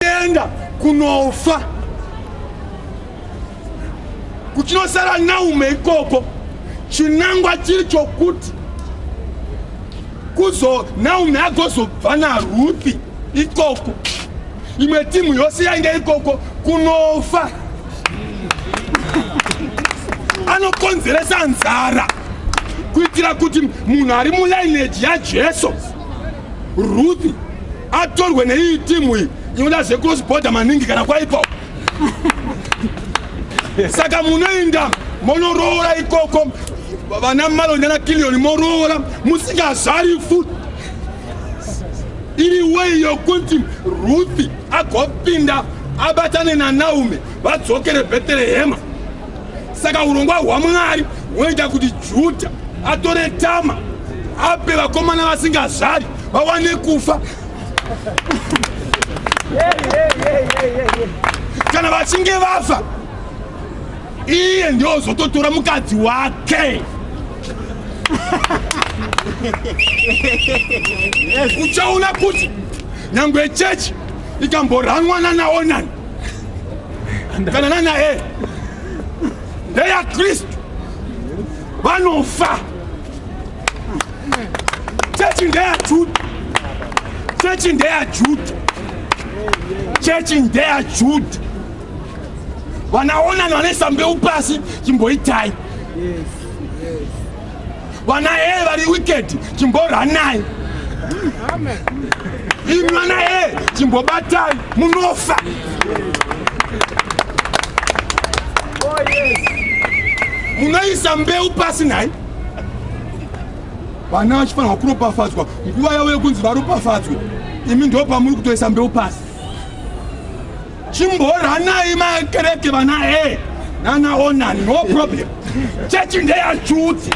kuenda kunofa kuchinosara naume ikoko chinangwa chiri chokuti kuzo naume agozobva naruthi ikoko imwe timu yose yainge ikoko kunofa anokonzeresa nzara kuitira kuti munhu ari mulainage yajesu Ruth atorwe neiyi timu iyi inoda zvecross border maningi kana kwaipa saka munoinda monoroora ikoko vana malonda na kilioni moroora musingazvari fut iri wei yokuti ruth agopinda abatane nanaume vadzokere beterehema saka urongwa hwamwari hwoita kuti judha atore tama ape vakomana vasingazvari vawane kufa kana vachinge vafa iye ndiozototora mukadzi wake uchaona kuti nyange chechi ikamboranwana naonani kanana naye ndeyakristu vanofa chechi ndeyajuda chechi ndeyajuda chechi ndeyajuda vanaonani vanoisa mbeu pasi chimboitai yes. Vana A vari wicked, chimborhanai. Imi vana A chimbobatai, munofa. Oh yes. Munoisa mbeu pasi nhai? Vana vachifanirwa kuropafadzwa nguva yavo yekunzi varopafadzwe. Imi ndopamuri kutoisa mbeu pasi. chimboranai makereke vana e nana onani no problem chechi ndeyachuti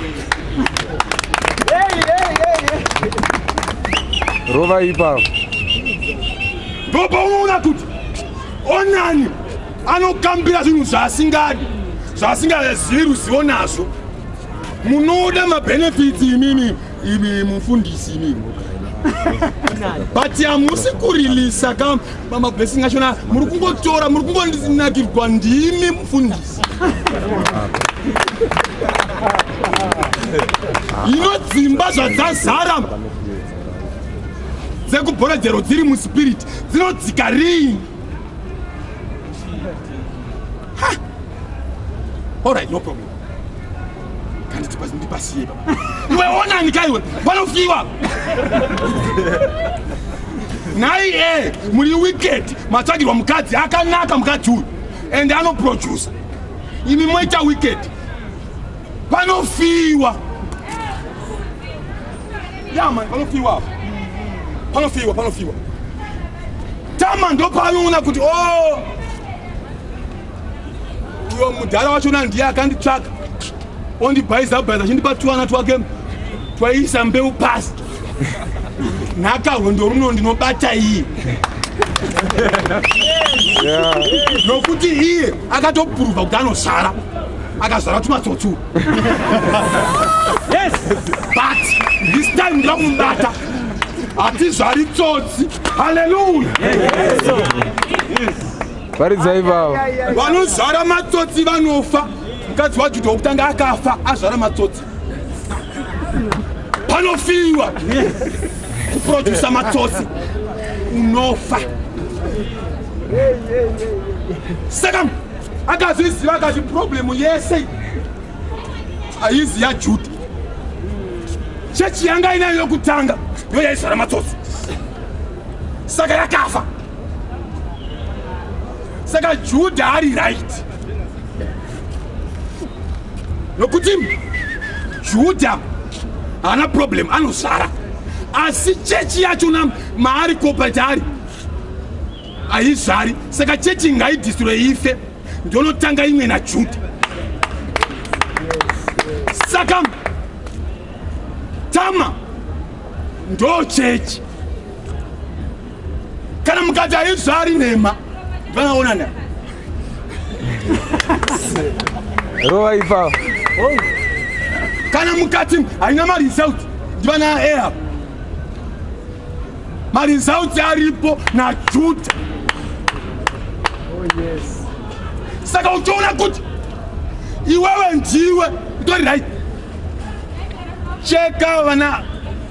rova ipapo ndopa unoona kuti onani anokambira zvinhu zvaasingadi zvaasingazivi ruzivo nazvo munoda mabenefits imimi imi mufundisi imi but hamusi kurilisa ka mablessing achona muri kungotora muri kungonakirwa ndimi mufundisi ino dzimba zvadzazara dzekubhoredzero dziri muspiriti dzinodzika rini All right, no problem. ndipasiye iwe onani ka iwe panofiwa nhai e muri wicked matsvagirwa mukadzi akanaka mukadzi uyu and anoproducer imi moita wicked panofiwa yaman panofiwa panofiwa panofiwa tama ndopanoona kuti o oh, uyo mudhara wachona ndiye akanditsvaka ondibhaiza bhaiza achindipa tuwana twake twaiisa mbeu pasi nhaka rwendo runo ndinobata iye nokuti iye akatopuruvha kuti anozvara akazvara tumatsotsu yes but this time ndira kumubata hatizvari tsotsi haleluya yes. yes. yes. varidza ivavo vanozvara matsotsi vanofa mukadzi wajuda wokutanga akafa azvara matsotsi panofiwa kuprodusa matsotsi unofa saka akazviziva akati problemu yese haizi yajuda chechi yanga inayo yokutanga yoyaizvara matsotsi saka yakafa saka judha ari right nokuti judha haana problem anozvara asi chechi yacho na maari cooperate ari haizvari saka chechi ngaidistroye ife ndonotanga imwe najudha saka tama ndo chechi kana mukati haizvari nhema vanaonana rova ipapo kana mukati haina maresult ndivana aehab maresult aripo najuda oh, saka uchiona kuti iwewe ndiwe utori right cheka vana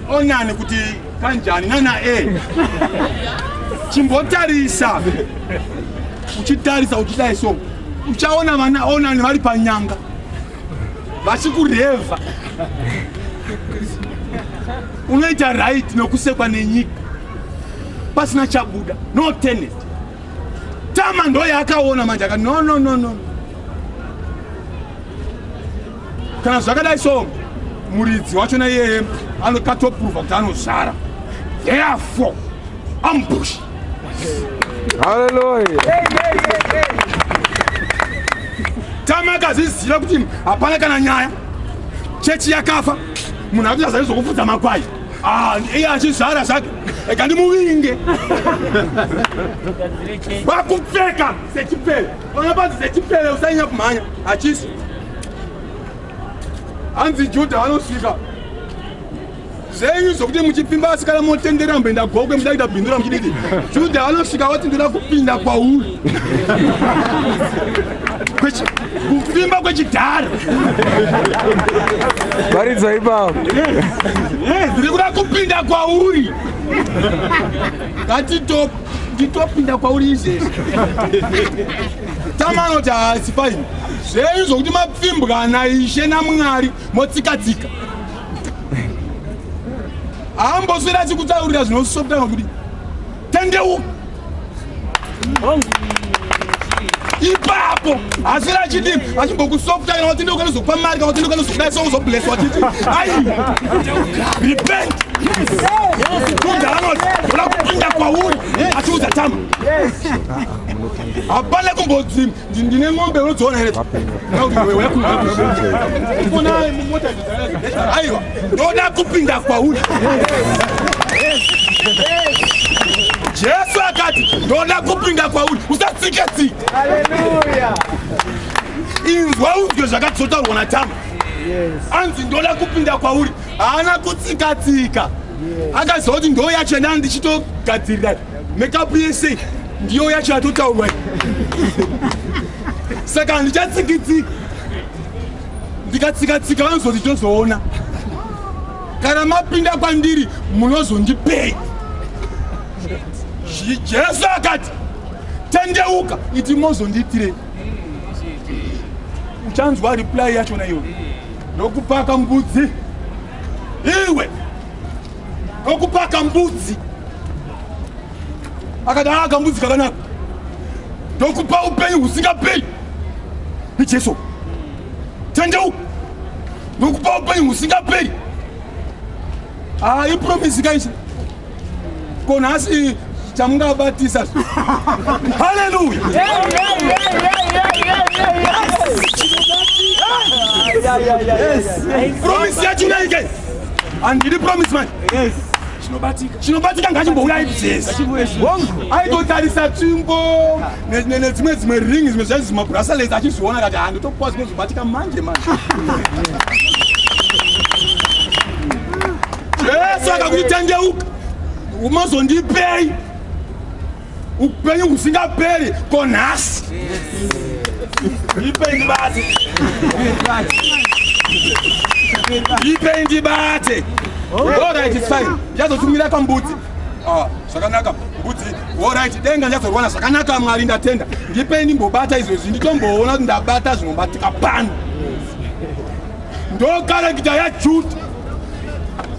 onani kuti kanjani nana e chimbotarisa uchitarisa uchidai so uchaona vana onani vari panyanga vachikurevha unoita right nokusekwa nenyika pasina chabuda no tenet tama ndoyaakaona manje akati no no no no, no. kana zvakadai so muridzi wachona iyeye anokatoprova kuti anozvara therefore ambush haleluya tamakazviziva kuti hapana kana nyaya chechi yakafa munhu akuchazavi zvokufudza makwai ah, iye achizvara zvake eka ndimuvinge vakupfeka sechipele vana panzi sechipele usanyanya kumhanya achisi hanzi judha anosvika zvenyu zvokuti muchipfimba asi kana motendera mboenda gokwe muda kuita bindura muchididi judha anosvika wati ndoda kupinda kwauri kuvimba kwechidhara varidza ipapo ndiri kuda kupinda kwauri ngatitop nditopinda kwauri izvezvi tama anoti haasi paini zvenyu zvokuti mapfimbwa naishe namwari motsikatsika haamboswera achikutaurira zvinosoptanga kuti tendeuka ipapo asi rachidi achimbokusofta kana watende ukanozokupa mari kana watende ukanozokudai so uzobleswa chiti ai repent kunza anoti oda kupinda kwauri achiudza tama hapana kumbodzi ndine ng'ombe unodziona here aiwa ndoda kupinda kwauri jesu akati ndoda kupinda kwauri usatsike tsike inzwa unzwe zvakati zvotaurwa natama anzi ndoda kupinda kwauri haana kutsikatsika akazoti ndoyachena ndichitogadzirira Makeup yese ndiyo yacho yatotaurwa saka handichatsikitsi ndikatsikatsika vanozoti tozoona kana mapinda kwandiri munozondipei jesu akati tendeuka iti mozondiitirei uchanzwa reply yachona iwe ndokupaka mbudzi iwe kokupaka mbudzi akadaa ah, kambudzi kakanaka ndokupa upenyu husingaperi nejesu tendeu ndokupa upenyu husingaperi haa ah, ipromisi kaisa ko nhasi chamungabatisa haleluya promise yacho naike handidi promise manje chinobatika ngachimbouya ibzes aitotarisa tsvimbo nedzimwe dzimwe ring zimwe zvaizvi mabracelets achizviona kati handitokuwa zvinozobatika manje manje jesu akakutendeuka umazondipei upenyu husingaperi ko nhasi ndipei ndibate ndipei ndibate orit its fine ndichazotumira pambudzi ah, zvakanaka mbudzi orit denga ndichazorwana zvakanaka mwari ndatenda ndipei ndimbobata izvezvi nditomboona kuti ndabata zvinobatika pano ndokarekita yajuda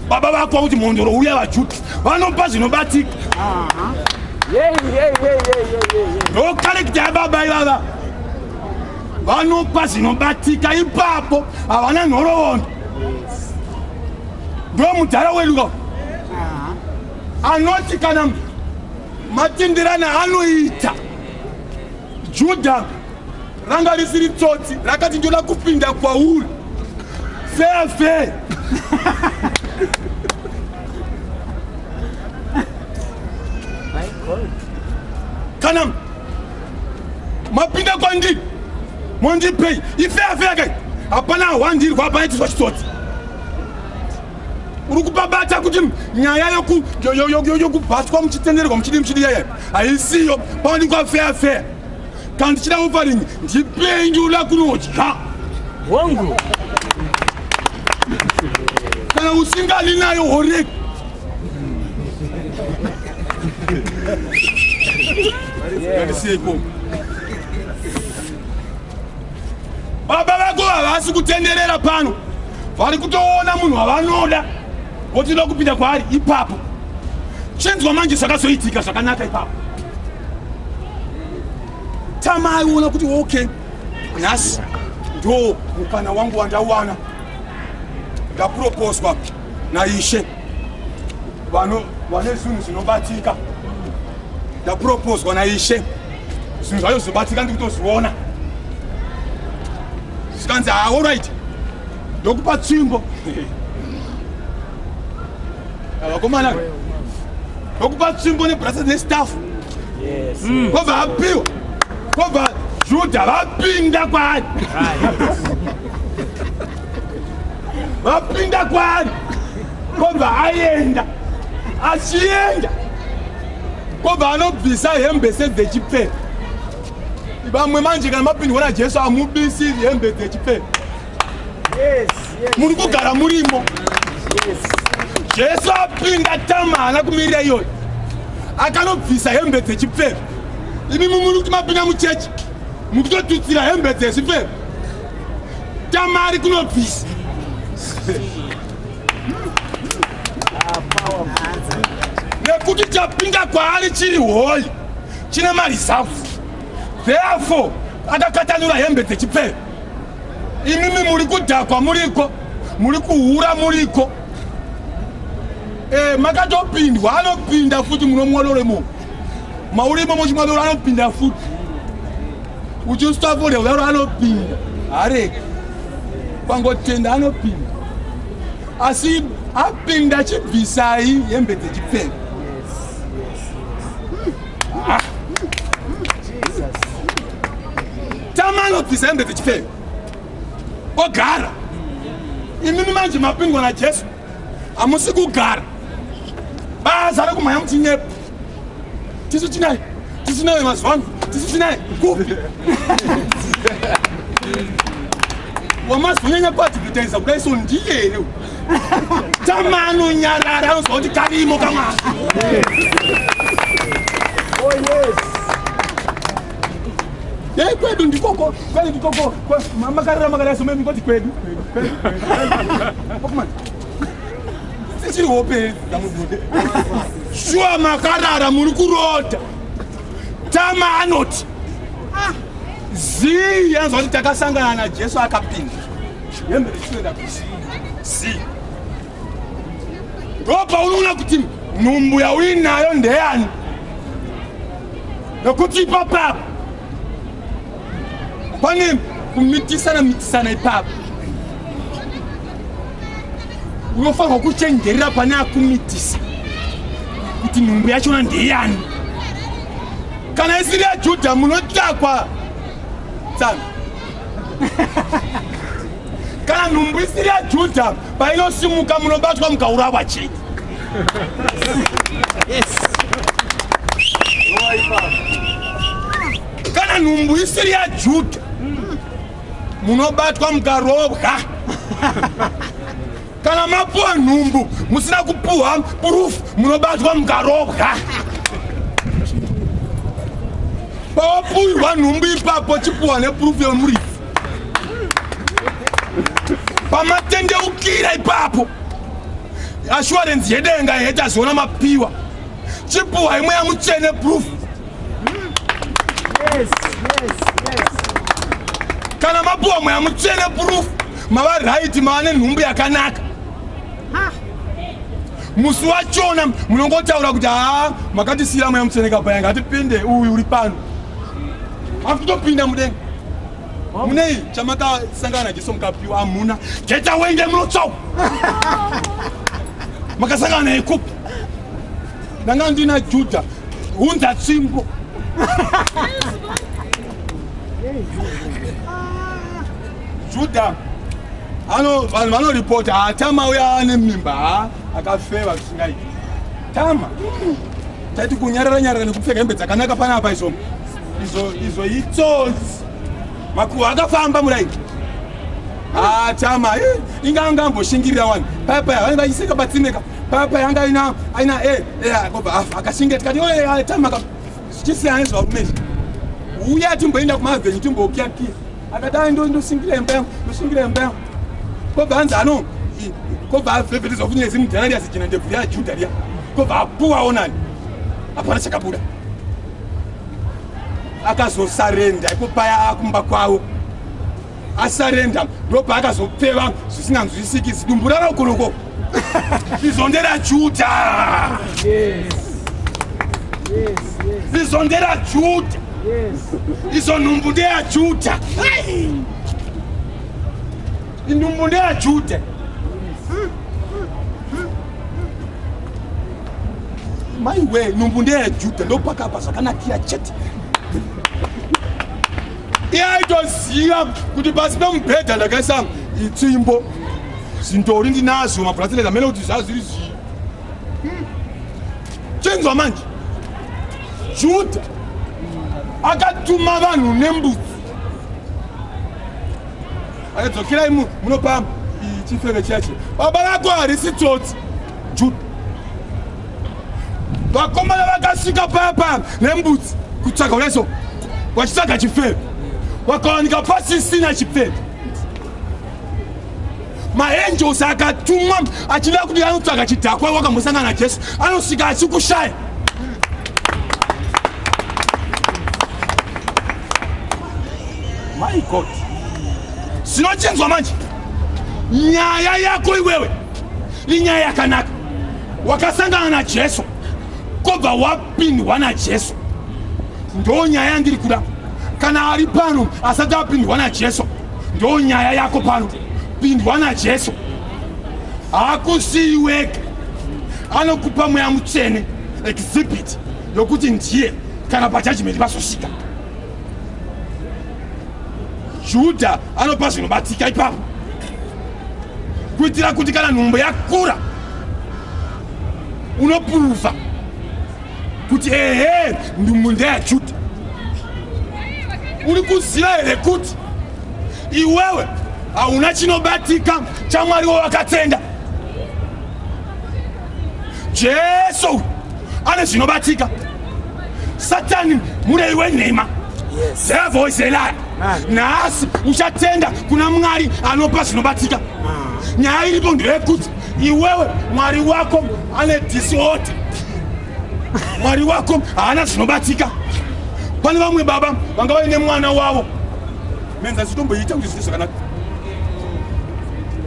baba vako kuti mhondoro uya vachuti vanopa zvinobatika ndokarekita yababa ivava vanopa zvinobatika ipapo havana nhorovondo ndo mudhara wedu ka anoti kana matindirana anoita Judha ranga risiri tsotsi rakati ndoda kupinda kwauri fair fair kana mapinda kwandiri mondipei ifeafeakai hapana hwandirwa hapana chizwa chitsotsi uri kupabata kuti nyaya yokubhatwa muchitenderwa muchidi muchidi yaya haisiyo paonekwa feya feya kana ndichida ofaringi ndipendula kunodya hongu kana usingani nayo horeki Agradeci aí, pô. baba vako havasi kutenderera pano vari kutoona munhu wavanoda votoda kupinda kwaari ipapo chinzwa manje zvakazoitika zvakanaka ipapo tama aiona kuti okay nhasi ndo mukana wangu wandawana ndapuroposwa naishe vano vane zvinhu zvinobatika ndapropozwa naishe zvinhu zvacho zvobatika ndikutozviona zvikanzi haa orit ndokupa tsvimbo vakomana ndokupa tsvimbo nebrasa nestaff mm. kobva apiwa kobva juda vapinda kwaari vapinda kwaari kobva aenda achienda kobva anobvisa hembe sedzechipfeka vamwe manje kana mapindwa najesu amubisi hembe dzechipfeka muri kugara murimo jesu apinda tama haana kumirira iyoyo akanobvisa hembe dzechipfeka imi mumuri kuti mapinda muchechi mukutotutsira hembe dzezvipfeka Tamari kunobvisa. Nekuti chapinda kwaari chiri hoyi chine marizavu. Therefore akakatanura hembe dzechipfero. Imimi muri kudhakwa muriko, muri kuhura muriko. Eh, makatopindwa anopinda futi munomwadoremo. Maurimo mochimwadoro anopinda futi. uchiswafolya kudaro anopinda hareki kwangotenda anopinda asi apinda chibvisai hembe dzechipfeko ah. tama anobvisa hembe dzechipfeko ogara imimi manje mapingwa najesu hamusi kugara baza rekumhanya muchinyepa tisu tinai tisinayo mazuva ano tisu tinai kupi wamazonyanya kuadvertisa kuda iso ndiye here tama anonyarara anoziva kuti karimo kamwana oh, Yei kwedu ndikoko kwani ndikoko makarira makarira somai mukoti kwedu kwedu tichiri hope dzamubude shuwa makarara muri kurota tama anoti ah, zii yanzwa kuti takasangana najesu akapinda hembe richitoenda kusi zii ndo paunoona kuti nhumbu yauinayo ndeyani nokuti ipapo apo pane kumitisana mitisana ipapo unofanirwa kuchenjerera pane akumitisa kuti nhumbu yachona ndeyani kana isiri yajudha munotakwa tsano kana nhumbu isiri yajudha painosimuka munobatwa mukaurawa chete kana nhumbu isiri yajuda munobatwa mukarobwa kana mapuwa nhumbu musina kupuhwa purufu munobatwa mukarobwa pawapuhwa nhumbu ipapo chipuhwa nepurufu yemurifu pamatendeukira ipapo assurance yedenga yetaziona mapiwa chipuhwa imwe yamutsvene proof kana mapuwa mweya mutsvene proof mava right mava nenhumbu yakanaka musi wachona munongotaura kuti haa makatisiira mweya mutsvene kapayanga hatipinde uyu uri pano akutopinda mudenga munei chamakasangana najesu mukapiwa amuna jeta wenge munotsau makasangana naye kupi ndanga ndina judha hunza tsimbo judha ano vanhu vanoripota ah, tama uya ane mimba ah, akafeva zvisingaiti tama taiti kunyarara nyarara nekupfeka hembe dzakanaka panapa izvombo izvo izvo itsotsi makuhwa akafamba muraini ah, chama eh, inga anga amboshingirira wani paya paya vanenge vachiseka patsineka paya paya anga aina aina e eh, e eh, kobva afa akashingira tikati oe chama zvichisiyana nezvarume izvi uya timboenda kumavhenyu timbokia kia akati ai ndoshingira imba yangu ndoshingira imba yangu kobva anzi ano kobva avevetezwa kunyaya zimudhanariasi jina ndebvu ya juda riya kobva apuwa onani hapana chakabuda akazosarenda ipo paya akumba kwavo asarenda ndopaakazopfeva zvisinganzwisiki zidumbu raraukoloko rizondera juda rizondera juda izo nhumbu ndeya juda Inhumbu ndeyaJuda. Maiwe, nhumbu ndeyaJuda ndopakapa zvakanakira chete. Iye aitoziva kuti pasi pemubhedha ndakaisa itsvimbo zvindori ndinazvo mabhuratireti amene kuti zvazviri zvii chinzwa manje juda akatuma vanhu nembudzi Akadzokerai mu munopamba chifeve chacho. Baba vako harisi tsotsi. Jude. Vakomana vakasvika papa nembudzi kutsvaga uneso vachitsvaga chifeve. Wakawanika pasisina chifeve. Maangels akatumwa achida kuti anotsvaga chidhakwa wakambosangana na Jesu anosvika achikushaya. My God. Sinochinzwa manje. Nyaya yako iwewe. Inyaya yakanaka. Wakasangana na Jesu. Kobva wapindwa na Jesu. Ndo nyaya yandiri kuda. Kana ari pano asati apindwa na Jesu. Ndo nyaya yako pano. Pindwa na Jesu. Hakusiyiweke. Anokupa mweya mutsvene exhibit yokuti ndiye kana pajudgment pasosvika. judha anopa zvinobatika ipapo kuitira kuti kana nhumbu yakura unopuruva kuti ehe ndumbu ndeyajudha uri kuziva here kuti iwewe hauna chinobatika chamwari wawakatenda jesu ane zvinobatika satani murei wenhema devil is a liar nhasi uchatenda kuna mwari anopa zvinobatika nyaya iripo ndeyekuti iwewe mwari wako ane disorder mwari wako haana zvinobatika pane vamwe baba vanga vaine mwana wavo menza zitomboita kuti zvii zvakanaka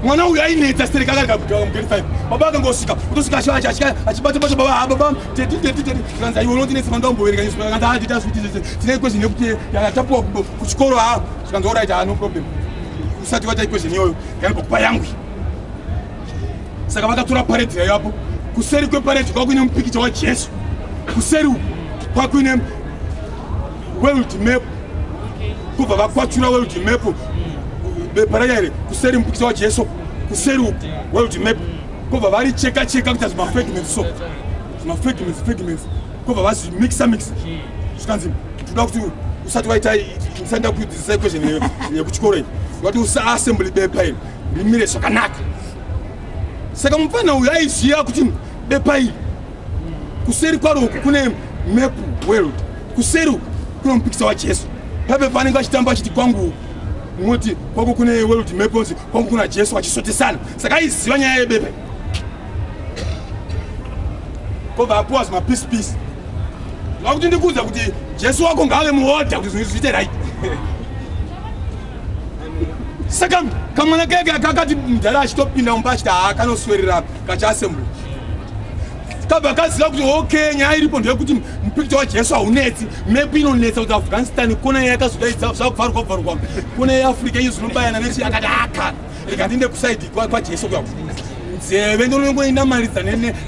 mwana uyu ainetsa stereka akarega kugara mugeri five baba akangosvika kutosvika ashaya achika achibata bata baba ha baba teti teti teti kanza iwe unondinetsa manda umboverenga nyusu kanza ha tita zviti zvese tine equation yekuti yatapuwa kuchikoro ha zvikanza orit ha no problem usati vata equation iyoyo yaibva kupa yangwi saka vakatora paredi yayo apo kuseri kweparedi kwakuine mupikicha wajesu kuseri kwakuine world map kubva vakwachura world map bepa raya here kuseri mupikisa wajesu kuseri uku world map kobva vari cheka cheka kuita zvimafegments so zvimafegments fegments kobva vazvimixa mix zvikanzi toda kuti usati waita ndisaenda kudzidzisa equation yekuchikoro iyi wati usaassembly bepa iri rimire zvakanaka saka mupfana uyu aiziva kuti bepa iri kuseri kwaro uku kune map world kuseri uku kune mupikisa wajesu paipe paanenge vachitamba achiti kwangu moti kwako kune world map onzi kwangu kuna jesu vachisotesana saka aiziva nyaya yebepe kobva apuwa zvimapiece piece va kuti ndikuudza kuti jesu wako ngaave muodha kuti zvinhu zviite right saka kamwana keke kakati mudhara achitopinda mumba achiti haa kanoswerera kachiasembly kabva kaziva kuti okay nyaya iripo ndeyekuti mupicture wajesu haunetsi mepi inonetsa kuti afghanistan kona iya yakazodaidza zvakuvharwa vharwa kona yeafrica iyo zvinobayana nechi akati aka rega ndiende kusaidi kwajesu kwa nzeve ndonongoinamaridza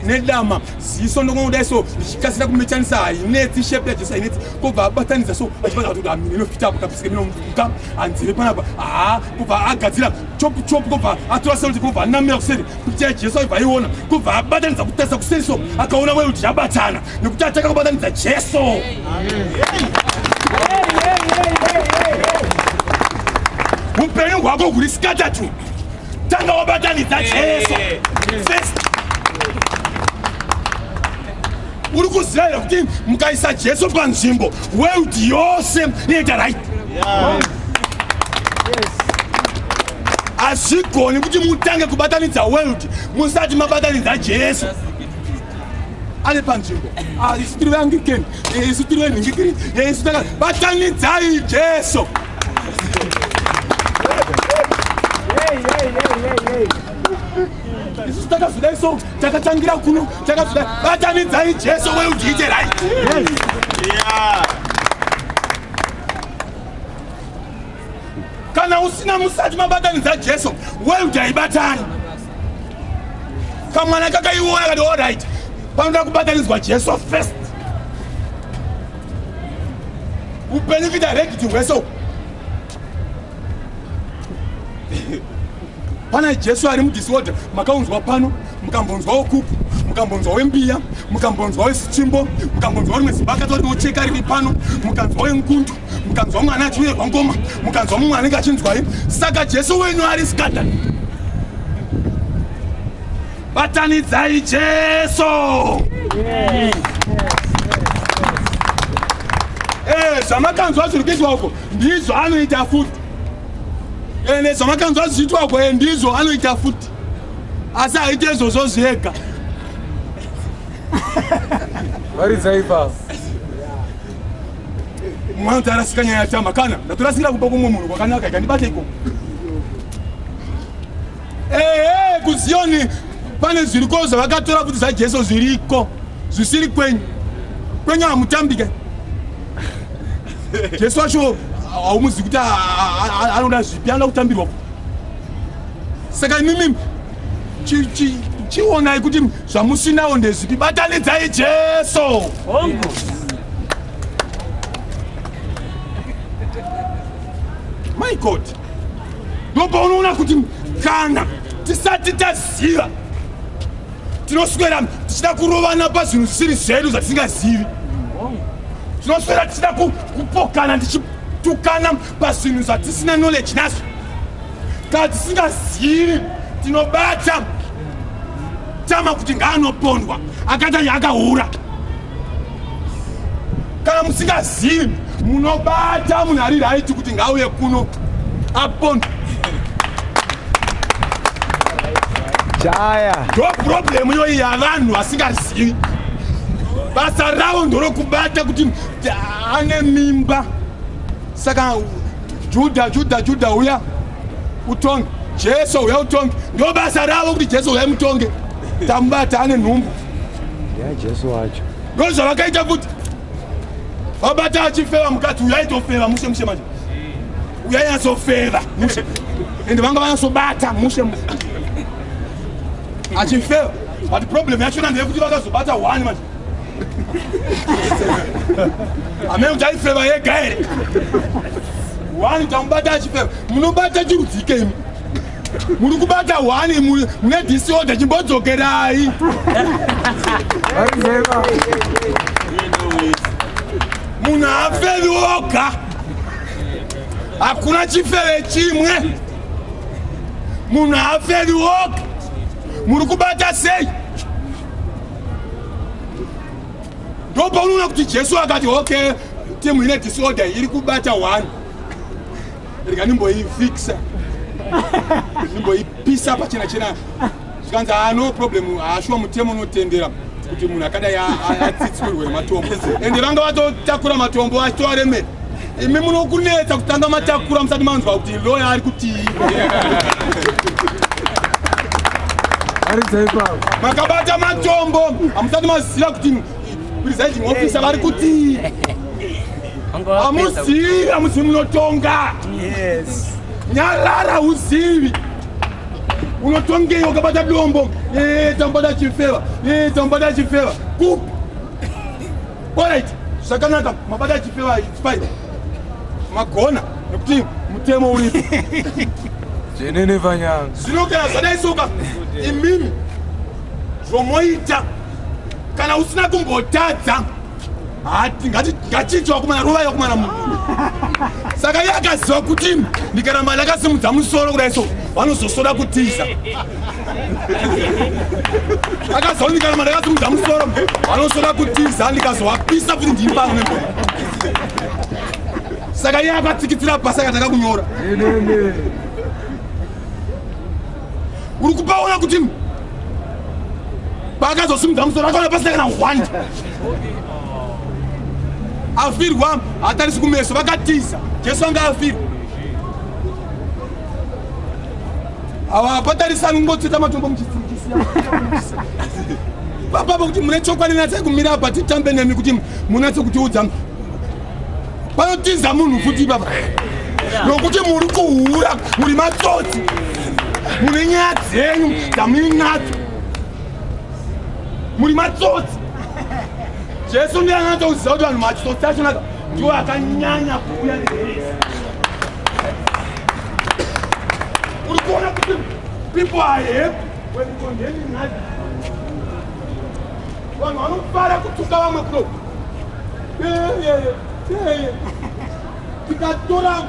nedama ziso ndongongodai so ndichikasira kumechanisa hainetsi shepi yajesu hainetsi kobva abatanidza so achibata kuti amini inofita apo kapisike minomuka anzeve panapa haa kobva agadzira chopu chopu kobva atora seuti kobva anamira kuseri kuti ya jesu aibva aiona kubva abatanidza kutarisa kuseri so akaona moyo kuti yabatana nekuti atanga kubatanidza jesu upenyu hwako huri skatatu tanga wabatanidza jesu uri kuziva here kuti mukaisa jesu panzvimbo world yose inoita right hazvigoni kuti mutange kubatanidza world musati mabatanidza jesu ari panzvimbo ah, isu tiri veangikeni eh, isu tiri venhingikiri eh, isu taka batanidzai jesu hey, hey, hey, hey, hey. isusu takazodai so takatangira kuno takazodai batanidzai jesu we ujiite right kana usina musati mabatanidza jesu we ujaibatani kamwana kakaiona kati orit panoda kubatanidzwa jesu first upenyu kuita rekiti hweso pana jesu ari mudisorder makaunzwa pano mukambonzwa wokuku mukambonzwa wembiya mukambonzwa wesichimbo mukambonzwa rimwe zimba akatori wocheka riri pano mukanzwa wengundu mukanzwa mwana achiuyerwa ngoma mukanzwa mumwe anenge achinzwai saka jesu wenyu ari scandal batanidzai jesu eh, zvamakanzwa zviri kuitwa uko ndizvo anoita futi ende zvamakanzwa zvichiitwa kwaye ndizvo anoita futi asi haite izvozvo zvega varidza ipapo mwana kuti arasika nyaya yatama kana ndatorasikira kupa kumwe munhu kwakanaka ikandibata ikoko ehe kuziyoni pane zviriko zvavakatora futi zvajesu zviriko zvisiri kwenyu kwenyu hamutambike jesu wacho haumuzi kuti anoda zvipi anoda kutambirwa saka imimi chionai kuti zvamusinawo ndezvipi batanidzai jesu hongu my god ndopaunoona kuti kana tisati taziva tinoswera tichida kurovana pazvinhu zvisiri zvedu zvatisingazivi tinoswera tichida kupokana tichitukana pazvinhu zvatisina knowledge nazvo kana tisingazivi tinobata tama kuti ngaanopondwa akata yaakahura kana musingazivi munobata munhu ari raiti kuti ngauye kuno apon chaya ndo problemu iyoyi yavanhu vasingazivi basa ravo ndorokubata kuti ane mimba saka judha judha judha uya utonge jesu uya utonge ndo basa ravo kuti jesu uya mutonge tamubata ane nhumbu yajesu wacho ndozvavakaita kuti vabata achifeva mukati uyaitofeva mushe mushe manje uyainyatsofeva mushe ende vanga vanyasobata mushe mushe achifeva but problem yachona ndeyekuti vakazobata one manje amene kuti aifeva yega here one utamubata achifeva munobata chirudzike imi muri kubata one mune disorder chimbodzokerai munhu afevi oga hakuna chifeve chimwe munhu afevi oga muri kubata sei ndopaunoona kuti jesu akati okay timu ine disorder iri kubata one rega ndimboifixa ndimboipisa pachena chena zvikanzi haa no problem haashuwa mutemo unotendera kuti munhu akadai atsitsirwe nematombo ende vanga vatotakura matombo achitoaremera imi munokunetsa kutanga matakura musati manzwa kuti loya ari kutii makabata matombo hamusati maziva kuti presiding officer vari kutii amuzivi amuzivi munotonga nyarara uzivi unotongeyi wakabata dombo ee tambada chifeva ee tambada chifeva kupi orit zvakanaka mabata chifeva fine magona nekuti mutemo uripo zvenene vanyanga zvino kana zvadai soka imimi zvomoita kana usina kumbotadza hati ngatichiti wakumana rovai wakumana mu saka iye akaziva kuti ndikaramba ndakasimudza musoro kudai so vanozosoda kutiza akaziva kuti ndikaramba ndakasimudza musoro vanosoda kutiza ndikazovapisa kuti ndini pano nebo saka iye akatsikitsira pasi akatanga kunyora uri kupaona kuti paakazosimudza musoro akaona pasina kana hwanda afirwa hatarisi kumeso vakatiza jesu anga afirwa hawapatarisani kungotsveta matombo muchisiikisia papapa kuti mune chokwadi natsai kumira apa titambe nemi kuti munatse kutiudza panotiza munhu futi papa nokuti muri kuhura muri matsotsi mune nyaya dzenyu dzamuinadzo muri matsotsi jesu ndiye anganatsa kuziva kuti vanhu matsotsi achonaka ndiwo akanyanya kuuya neheresi uri kuona kuti people are happy when condemning others vanhu vanofara kutuka vamwe kuno tikatoramu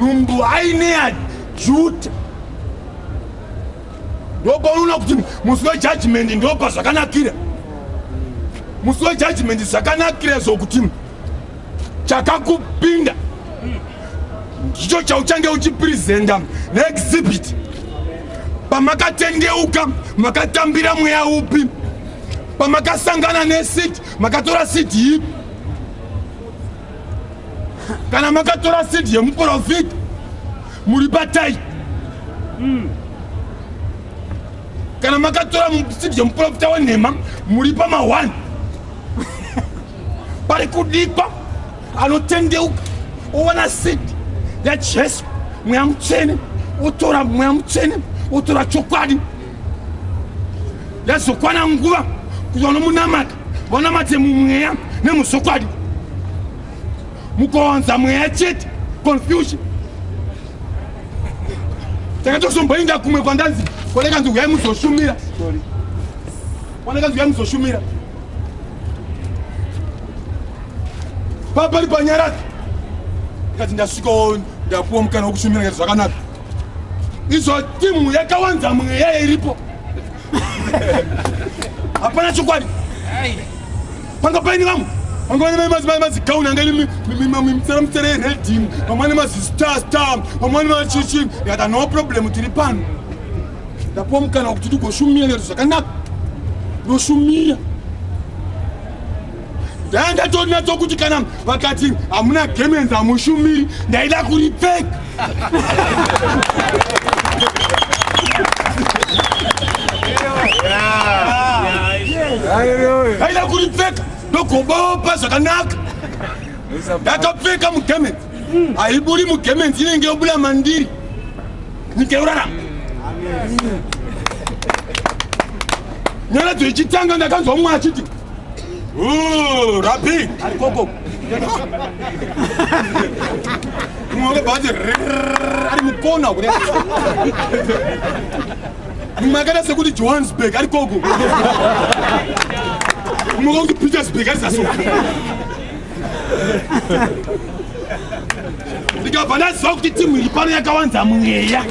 nhumbu haine yajuta ndopaunoona kuti musi wejudgment ndopa zvakanakira musi wejudgment zvakanakira zvokuti chakakupinda ndicho chauchange uchipresenta neexhibit pamakatendeuka makatambira mweya upi pamakasangana nesit makatora sit ipi kana makatora sidi yemuprofita muri batai mm. kana makatora sidi yemuprofita wenhema muri pamahwani pari kudikwa anotendeuka owana sidi yajesu mweya mutsvene otora mweya mutsvene otora chokwadi yazokwana nguva kuzonomunamata vanamate mumweya nemuzokwadi mukawanza mweya chete confusion takatozomboinda kumwe kwandanzi kwanekanzi huyai muzoshumira kwanekanzi huyai muzoshumira papari panyarati ndikati ndasvikawo ndapuwa mukana wekushumira ngati zvakanaka izvo timu yakawanza mweya iripo hapana chokwadi panga paini vamwe vanga vane madzimai mazigauni anga ine mitsara mitsara yeredhini vamwe vane mazistar star vamwe vane machichi yata no problem tiri pano ndapuwa mukana wekuti tigoshumira lero zvakanaka ndoshumira ndanga tonatso kuti kana vakati hamuna gemenzi hamushumiri ndaida kuripfek aida kuripfeka ndogobopa zvakanaka ndakapfeka mugemenzi haiburi mugemenzi inenge yobuda mandiri nyika yorarama nyaradzo ichitanga ndakanzwa mumwe achiti Ooh, Rapi! Alikoko! Mwe bhazi ari mukona kune mumwe akaita sekuti johannesburg ari koko mumwe kuti petersburg ari zaso ndikabva ndaziva kuti timu iri pano yakawanza mweya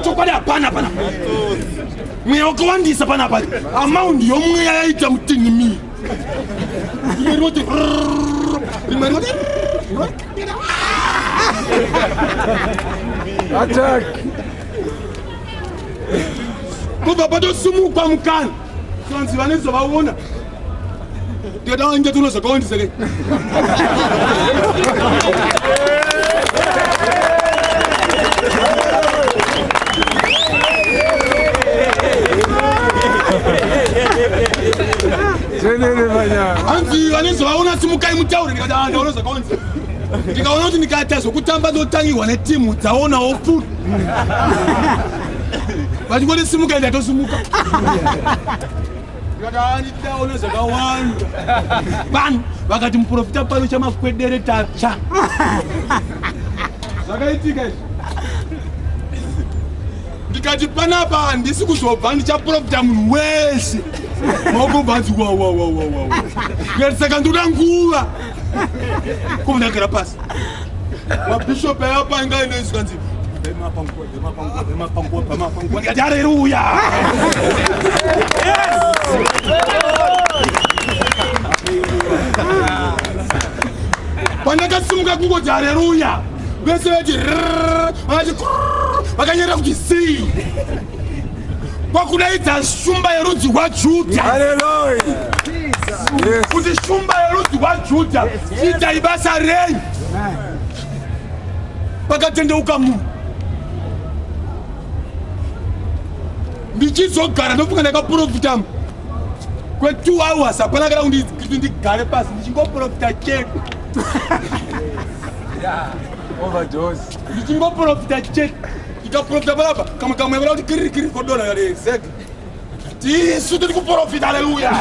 chokwadi hapana pana mweya wakawandisa pana pa amaundi yomweya yaita mutinhi mii rimwe rinoti rimwe rinoti atak kubva patosumukwa mukana tonzi vane zvavaona ndikatawainge tuno zvakawandiseke hanzi vane zvavaona simukai mutaure ndikati ah, ndaona zvakaonzi ndikaona kuti ndikaita zvokutamba ndotangirwa netimu dzaonawo fut vachingoti simuka ende atosimuka vakavanidaona zvakawanda vanhu vakati muprofita pano chamakwedere tatsva zvakaitika izvi ndikati panapa handisi kuzobva ndichaprofita munhu wese maukobvanzi wawawawawa ndikati saka ndoda nguva kobundagara pasi mabhishopi ayapa ingainoizwa nzi pandakasimuka kungoti hareruya vese vati vakati vakanyera kuti sei kwakudaidza shumba yerudzi rwajudha kuti shumba yerudzi rwajudha chiitai basa rei pakatendeuka munhu ndichizogara ndofunga ndakaprofitamo kwetu hours hapana kana kuti ndigare pasi ndichingoprofita chete ndichingoprofita chete ndikaprofita panapa kamwe kamwe vana kuti kiririkiri kodona kare exactly tisu tiri kuprofita aleluya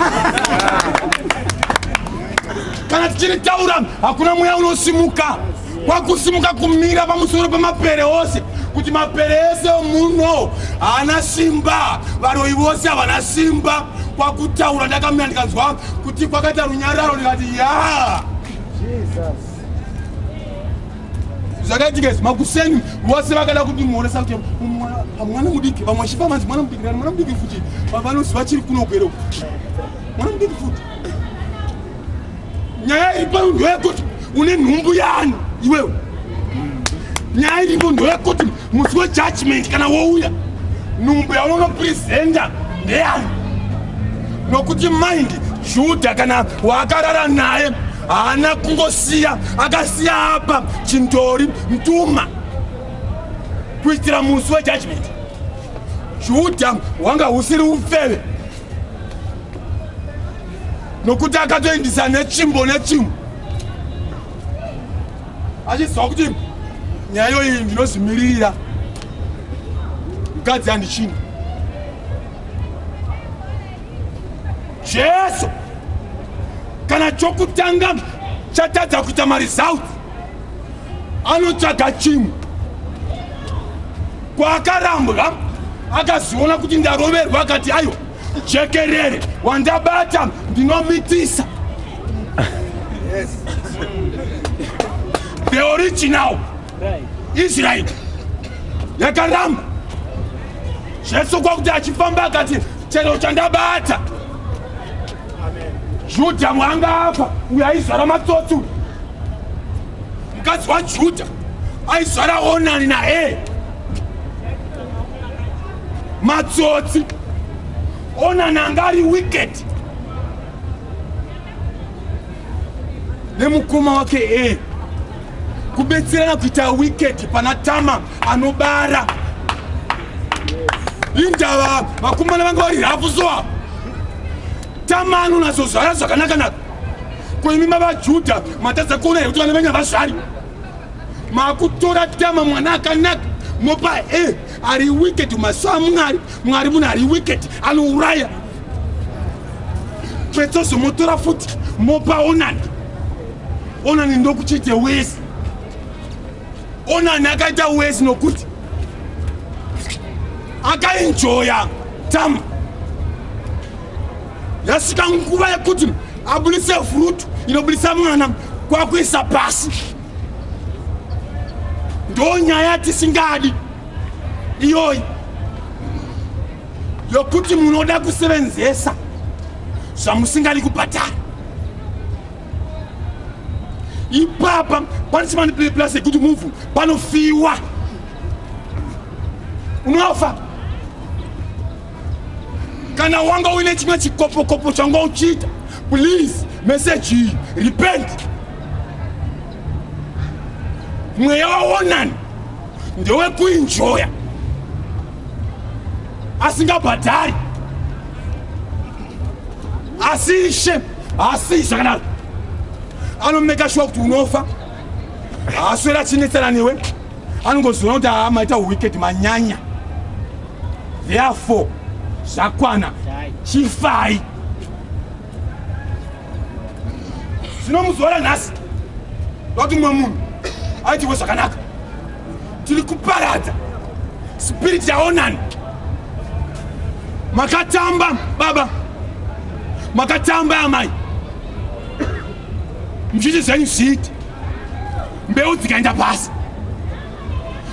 kana tichiri taura hakuna mweya unosimuka kwakusimuka kumira pamusoro pemapere ose kuti mapere ese muno haana simba varoyi vose havana simba kwakutaura ndakamira ndikanzwa kuti kwakaita runyararo ndikati ya Jesus. zvakaitika izvi makuseni vose vakada kutimuonesa kuti mwana mudiki vamwe vachifa manzi mwana mudiki mwana mudiki futi vavanoziva chiri kunogwero mwana mudiki futi nyaya iri pano ndoyekuti une nhumbu yaani iwewe nyaya iripo ndoyekuti musi wejudgment kana wouya nhumbu yaunonopresenta ndeyani nokuti mind juda kana waakarara naye haana kungosiya akasiya apa chindori mtuma kuitira musi wejudgment juda hwanga husiri ufeve nokuti akatoindisa nechimbo nechimbo achiziva kuti nyayo iyi ndinozvimiririra mukadzi handichini jesu kana chokutanga chatadza kuita maresults anotsvaga chimwe kwaakarambwa akaziona kuti ndaroverwa akati aiwa jekerere wandabata ndinomitisa the original israel yakaramba Jesu kwakuti achifamba akati chero chandabata Judha mwanga afa uyo aizvara matsotsi uyu mukadzi waJudha aizvara Onani naEri matsotsi Onani anga ari wicked nemukoma wake Eri kubetserana kuita wicket pana tama anobara indava vakomana vanga vari hafu so apa tama anonazozvara zvakanakanaka ko imi mavajuda matadza kuona here kuti vana venyu havazvari makutora tama mwana akanaka mopa e ari wicket masaa mwari mwari munhu ari wicket anouraya petsozomutora futi mopa onani onani ndokuchiite wesi onani akaita wesi nokuti akainjoya tama yasvika nguva yekuti abudise frutu inobudisa mwana kwakuisa pasi ndo nyaya tisingadi iyoyi yokuti munoda kusevenzesa zvamusingadi kubhadhara ipapa pane chimani play plus yekuti muvhu panofiwa unofa kana wanga uine chimwe chikopokopo changa uchiita please message iyi repent mweya waonani ndewekuinjoya asingabhadhari asi ishe haasii zvakanaro anomeka shuwa kuti unofa haaswera achinetsana newe anongoziona kuti haa maita wicked manyanya therefore zvakwana chifai zvino muzuva ranhasi vati mumwe munhu aitirwe zvakanaka tiri kuparadza spiriti yaonani makatamba baba makatamba amai muzviti zvenyu zviiti mbeu dzikaenda pasi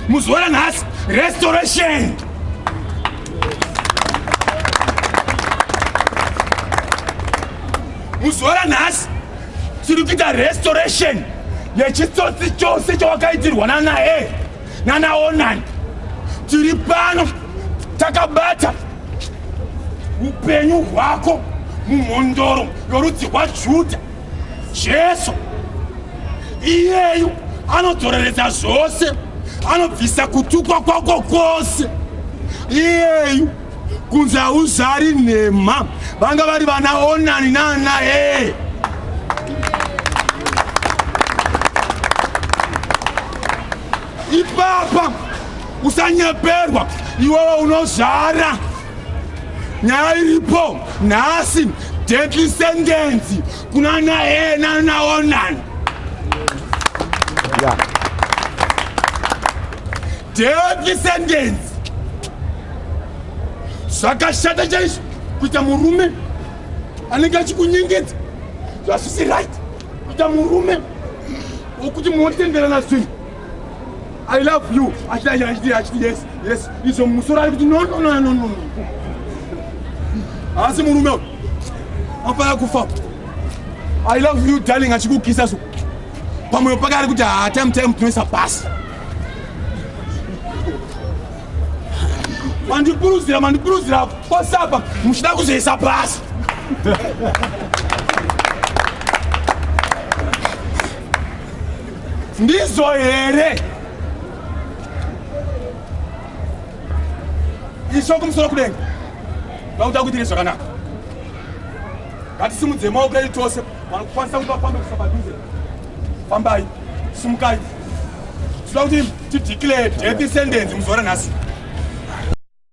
muzuva ranhasi restoration muzuva ranhasi tiri kuita restoration yechitsotsi chose chawakaitirwa nanae nanaonani tiri pano takabata upenyu hwako mumhondoro yorudzi rwajudha Jesu iyeyu anodzoreredza zvose, anobvisa kutukwa kwako kwose. Iyeyu kunze hauzari nhema, vanga vari vana Onani naana ee ipapa usanyeperwa iwewe unozvara nyaya iripo nhasi deadly sentence kuna naye nanaonan deadly sentence zvakashata chaizvo kuita murume anenge achikunyengedza zvasvisi right kuita murume wokuti munotenderana zvinhu I love you. Achiti achiti achiti yes yes. Izo musoro ari kuti no no no no no. Asi murume uyu afana kufa. I love you darling achikukisa so. Pamwe pake ari kuti ha ah, time time tinoisa pasi. Mandipuruzira mandipuruzira pasapa muchida kuzoisa pasi. Ndizvo here? Isho kumusoro kudenga. Vakuda kuitire zvakanaka. Ngatisimudze maoko edu tose. Vanokwanisa kuti vafambe kusa padhuze. Fambai. Simukai. Tinoda kuti tideclare death sentence muzuva ranhasi.